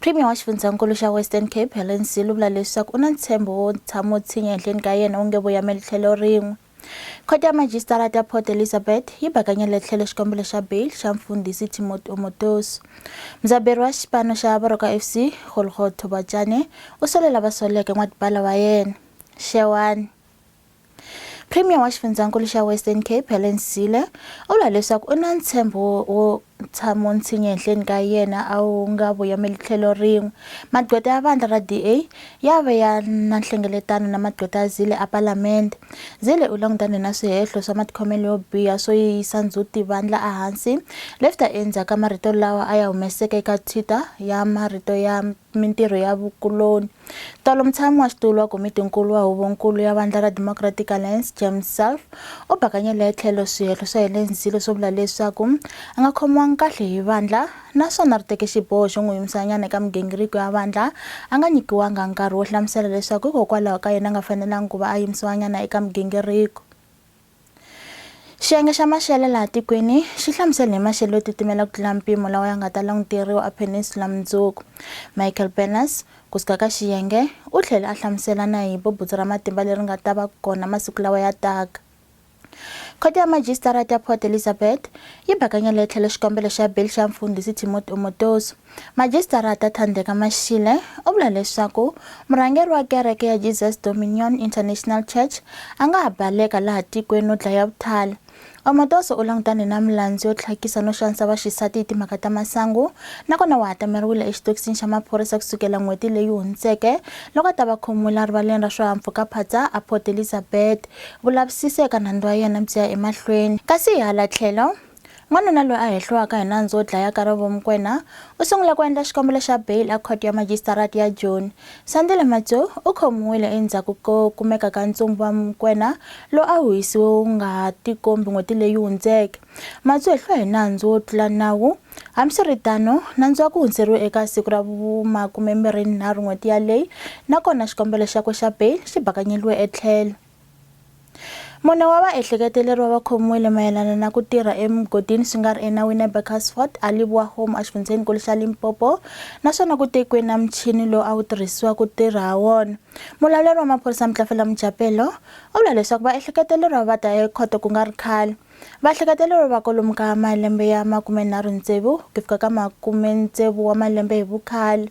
Premier wa xifundzankulu xa Western Cape, Helen Zille u vula leswaku u na ntshembo wo tshama u tshinya ehenhleni ka yena wu nge voyameli tlhelo rin'we. Khoto ya Majisitara ta Port Elizabeth yi bakanyele tlhelo xikombelo xa bail xa mfundhisi Timothy Omotoso. Mudzaberi wa xipano xa Baroka FC, Golgo Thobachane, u solela vasoleke n'watipala wa yena, Xewani. Premier wa xifundzankulu xa Western Cape Helen Zille u vula leswaku u na ntshembo wo tshamo ntshinya ehenhleni ka yena a wu nga vuyameli tlhelo rin'we magqweta ya vandla ra DA ya ve ya na nhlengeletano na magqweta ya Zille a palamende Zille u langutane na swihehlo swa matikhomelo yo biha swo yiyisa ndzhuti vandla ehansi lefta endzhaku ka marito lawa a ya humeseke eka Twitter ya marito ya mintirho ya vukuloni Tolo mutshami wa xitulu wa komiti-nkulu wa Huvo-nkulu ya Vandla ra Democratic Alliance, James Self, u bakanyele tlhelo swihehlo swa Helen Zille swo vula leswaku a nga khomiwanga kahle hi vandla naswona ri teke xiboho xo n'wi yimisanyana eka migingiriko ya vandla a nga nyikiwanga nkarhi wo hlamusela leswaku hikokwalaho ka yini a nga fanelangi ku va a yimisiwanyana eka migingiriko. Xiyenge xa maxelo laha tikweni xi hlamusele hi maxelo yo titimela ku tlula mpimo lawa ya nga ta languteriwa epeninsula mundzuku michael berners ku suka ka xiyenge u tlhele a hlamusela na hi bubutsu ra matimba leri nga ta va kona masiku lawa ya taka khoto ya majisitarata ya port elizabeth yi bakanyele tlhelo xikombelo xa beli xa mfundhisi timothy omotoso Majisitarata Thandeka Mashile u vula leswaku murhangeri wa kereke ya Jesus Dominion International Church a nga ha baleka laha tikweni no dlaya vuthali. Omotoso u langutane na milandzu yo tlhakisa no xanisa vaxisati hi timhaka ta masangu nakona wa hatameriwile exitokisini xa maphorisa kusukela n'hweti leyi hundzeke loko a ta va khomiwile a rivaleni ra swihahampfhukaphatsa a Port Elizabeth. Vulavisisi eka nandzu wa yena byi ya emahlweni kasi hi hala tlhelo N'wanuna loyi a hehliwaka hi nandzu wo dlaya Karabo Mokwena u sungule ku endla xikombelo xa bail eKhoto ya Majisitarati ya Joni. Sandile Matsu u khomiwile endzhaku ko kumeka ka ntsumbu wa Mokwena lowu a wu hisiwe wu nga ha tikombi n'hweti leyi hundzeke. Matsu u hehliwe hi nandzu wo tlula nawu. Hambiswiritano, nandzu wa ku hundzeriwe eka siku ra vumakume-mbirhi-nharhu n'hweti yaleyo nakona xikombelo xakwe xa bail xi bakanyeliwe etlhelo. Mune wa vaehleketeleriwa va khomiwile mayelana na ku tirha emugodini swi nga ri enawini eBurkersfort, Alibua Home exifundzhenikulu xa Limpopo naswona ku tekiwe na muchini lowu a wu tirhisiwa ku tirha ha wona. Mulawuleri wa maphorisa Mtlafela Mojapelo u vula leswaku vaehleketeleriwa va ta ekhoto ku nga ri khale. Vaehleketeleriwa va kolomu ka malembe ya makumenharhu-tsevu ku fika ka makume-tsevu wa malembe hi vukhale.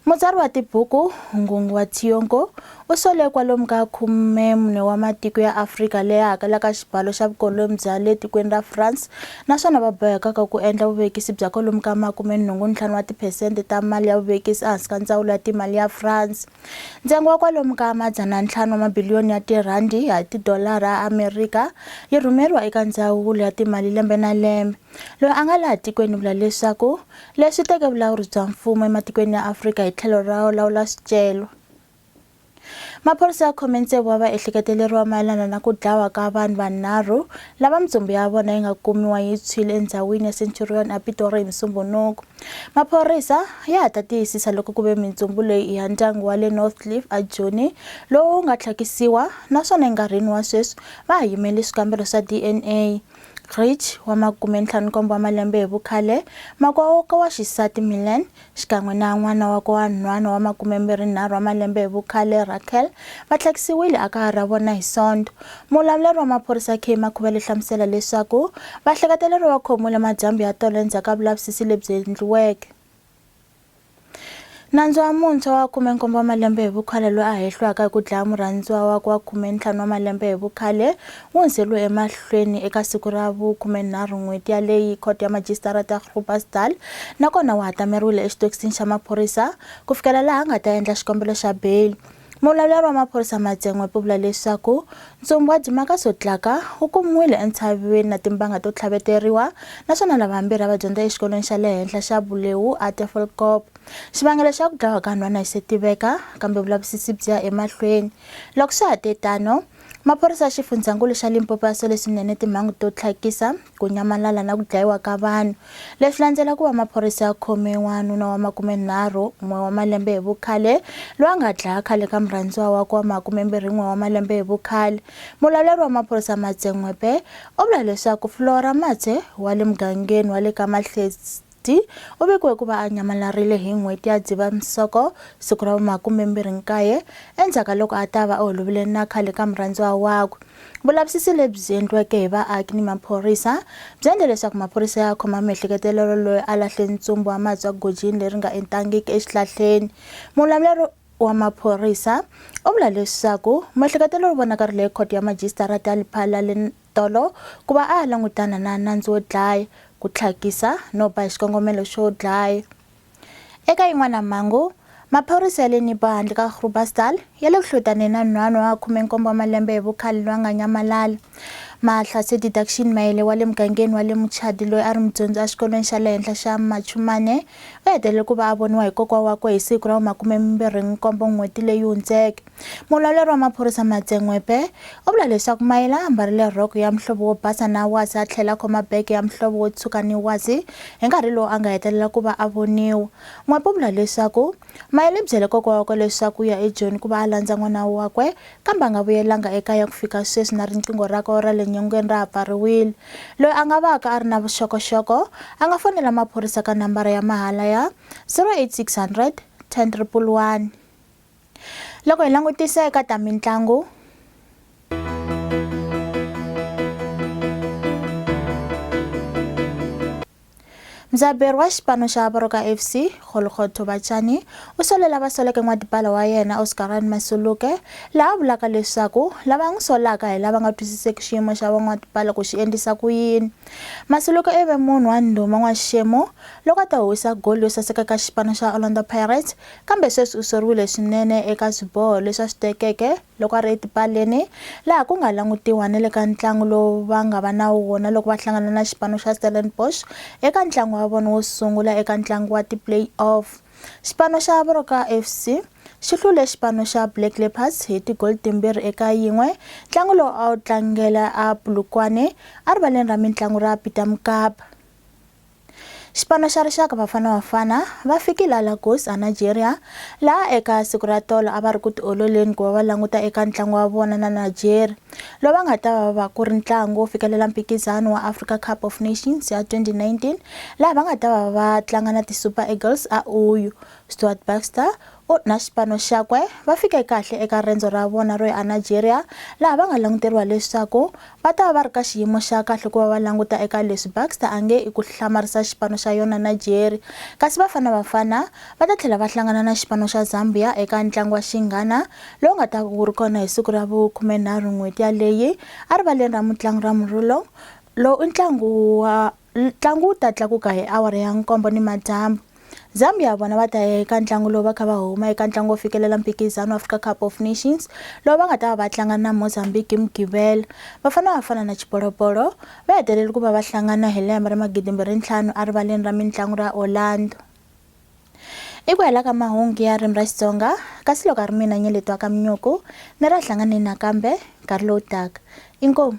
Mutsari wa tibuku Ngunguwa Tionko u sole kwalomu ka khume mune wa matiko ya Afrika leyi hakelaka xibalo xa vukoloni bya le tikweni ra France naswona va bohekaka ku endla vuvekisi bya kwalomu ka makume nhungu ntlhanu wa tiphesente ta mali ya vuvekisi ehansi ka ndzawulo ya timali ya France. Ntsengo wa kwalomu ka madzana ntlhanu wa mabiliyoni ya tirhandi ya tidolara ya Amerika yi rhumeriwa eka ndzawulo ya timali lembe na lembe. Loyi a nga laha tikweni u vula leswaku leswi teke vulawuri bya mfumo ematikweni ya Afrika hi tlhelo ra lawula swicelo. Maphorisa ya khome ntsevu wa vaehleketeleriwa mayelana na ku dlawa ka vanhu vanharhu lava mintsumbu ya vona yi nga kumiwa yi tshwile endhawini ya Centurion ePitori hi Musumbunuku. Maphorisa ya ha ta tiyisisa loko ku ve mintsumbu leyi i ya ndyangu wa le Northcliff eJoni lowu nga tlhakisiwa naswona enkarhini wa sweswi va ha yimele swikambelo swa DNA. Grech, wa makume ntlhanu nkombo wa malembe hi vukhale, makwavo wakwe wa xisati Milen, xikan'we na n'wana wakwe wa nhwana wa makume mbirhi nharhu wa malembe hi vukhale Raquel, va tlhakisiwile ekaya ra vona hi Sonto. Muvulavuleri wa maphorisa Kay Makhuvele u hlamusela leswaku vahleketeleriwa va khomiwile madyambu ya tolo endzhaku ka vulavisisi lebyi endliweke. Nandzu wa muntshwa wa khume-nkombo wa malembe hi vukhale loyi a hehlwaka hi ku dlaya murhandziwa wakwe wa khume-ntlhanu wa malembe hi vukhale wu hundzeriwe emahlweni eka siku ra vu-khume-nharhu n'hweti yaleyi Khoto ya Majisitarata ya Groblersdal nakona wu hatameriwile exitokisini xa maphorisa ku fikela laha a nga ta endla xikombelo xa beyili. Mulavuleri wa maphorisa Madzengwepe u vula leswaku ntsumbu wa Dimaka Sotlaka wu kumiwile entshaveni na timbanga to tlhaveteriwa naswona lava vambirhi a va dyondza exikolweni xa le henhla xa Buleu Atefolkop. Xivangelo xa ku dlawa ka nhwana a xi se tiveka kambe vulavisisi byi ya emahlweni. Loko swa ha te tano, Maphorisa ya xifundzhankulu xa Limpopo ya sole swinene timhangu to tlhakisa, ku nyamalala na ku dlayiwa ka vanhu. Leswi landzela ku va maphorisa ya khome n'wanuna wa makumenharhu n'we wa malembe hi vukhale loyi a nga dlaya khale ka murhandziwa wakwe wa makumembirhi n'we wa malembe hi vukhale. Mulawuleri wa maphorisa Matse N'wepe u vula leswaku Flora Matse wa le mugangeni wa le ka Mahlesi T u vikiwe ku va a nyamalarile hi n'hweti ya Dzivamisoko siku ra vu-29 endzhaku ka loko a ta va a holovile na khale ka murhandziwa wakwe. Vulavisisi lebyi endliweke hi vaaki ni maphorisa byi endle leswaku maphorisa ya khoma miehleketelelo loyi a lahle ntsumbu wa mati wa gojini leri nga entangiki exihlahleni. Mulamuleri wa maphorisa u vula leswaku muehleketelelo u vonakarile ekhoto ya majisitarata ya Lephalale Tolo, ku va a ya langutana na nandzu wo dlaya, ku tlhakisa no ba hi xikongomelo xo dlaya. Eka yin'wana mhangu, maphorisa ya le Nibo handle ka Groblersdal ya le ku hlutaneni na nhwana wa 17 wa malembe hi vukhale loyi a nga nyamalala. Mahlatse Didaction Maele wa le mugangeni wa le Muchadi loyi a ri mudyondzi exikolweni xa le henhla xa Machumane u hetelele ku va a voniwa hi kokwa wakwe hi siku ra vu makume mimbirhi n'hweti leyi hundzeke. Mulawuleri wa maphorisa Matse N'wepe u vula leswaku Mayela a mbarile rhoko ya muhlovo wo basa na wasi a tlhela a khoma bege ya muhlovo wo tshuka ni wasi hi nkarhi lowu a nga hetelela ku va a voniwa. N'wepe u vula leswaku Mayela i byele kokwa wakwe leswaku u ya ejoni ku va a landza n'wana wakwe kambe a nga vuyelanga ekaya ku fika sweswi na riqingho rakwe ra le nyongeni ra ha pfariwile. Loyi a nga vaka a ri na vuxokoxoko a nga fonela maphorisa ka nambara ya mahala ya 08600 10111. loko hi langutisa eka ta mitlangu mudzaberi wa xipano xa baroka fc golgotho vachani u sole lava soleke n'watipala wa yena oscarani masuluke laha a vulaka leswaku lava n'wi solaka hi lava nga twisiseki xiyimo xa van'watipala ku xi endlisa ku yini masuluke i ve munhu wa ndhuma n'waxixemu loko a ta huwisa goli yo saseka ka xipano xa orlando pirates Kambe sweswi u soriwile swinene eka swiboho leswi a swi tekeke loko a ri etipaleni, laha ku nga langutiwa ni le ka ntlangu lowu va nga va na wona loko va hlangana na xipano xa Stellenbosch eka ntlangu wa vona wo sungula eka ntlangu wa ti-play-off. Xipano xa Baroka FC xi hlule xipano xa Black Leopards hi tigoli timbirhi eka yin'we, ntlangu lowu a wu tlangela a Polokwane, erivaleni ra mintlangu ra Peter Mokaba. Xipano xa rixaka Bafana Bafana va fikile a Lagos eNigeria laha eka siku ra tolo a va ri ku tiololeni ku va va languta eka ntlangu wa vona na Nigeria lowu va nga ta va va ku ri ntlangu wo fikelela mphikizano wa Africa Cup of Nations ya 2019 laha va nga ta va va tlanga na ti-Super Eagles a Uyo. Stuart Baxter U na xipano xakwe va fike kahle eka rendzo ra vona ro ya eNigeria laha va nga languteriwa leswaku va ta va va ri ka xiyimo xa kahle ku va va languta eka leswi Baxter a nge i ku hlamarisa xipano xa yona Nigeria. Kasi Bafana Bafana va ta tlhela va hlangana na xipano xa Zambia eka ntlangu wa xinghana lowu nga ta wu ri kona hi siku ra vu khumenharhu n'hweti yaleyi erivaleni ra mutlangi ra Murillo. Lowu i ntlangu wa Ntlangu wu ta tlakuka hi awara ya nkombo ni madyambu. Zambia vona va ta ya eka ntlangu lowu va kha va huma eka ntlangu wo fikelela mphikizano wa Africa Cup of Nations lowu va nga ta va va tlanga na Mozambique hi Mugqivela. Vafana Vafana na Xibolobolo va hetelele ku va va hlangana hi lembe ra magidimbirhi ntlhanu erivaleni ra mintlangu ra Orlando. I ku hela ka mahungu ya ririmi ra Xitsonga, kasi loko a ri mina Nyeleti wa ka Mnyuku, ni ra hlanganeni nakambe nkarhi lowu taka. Inkomu.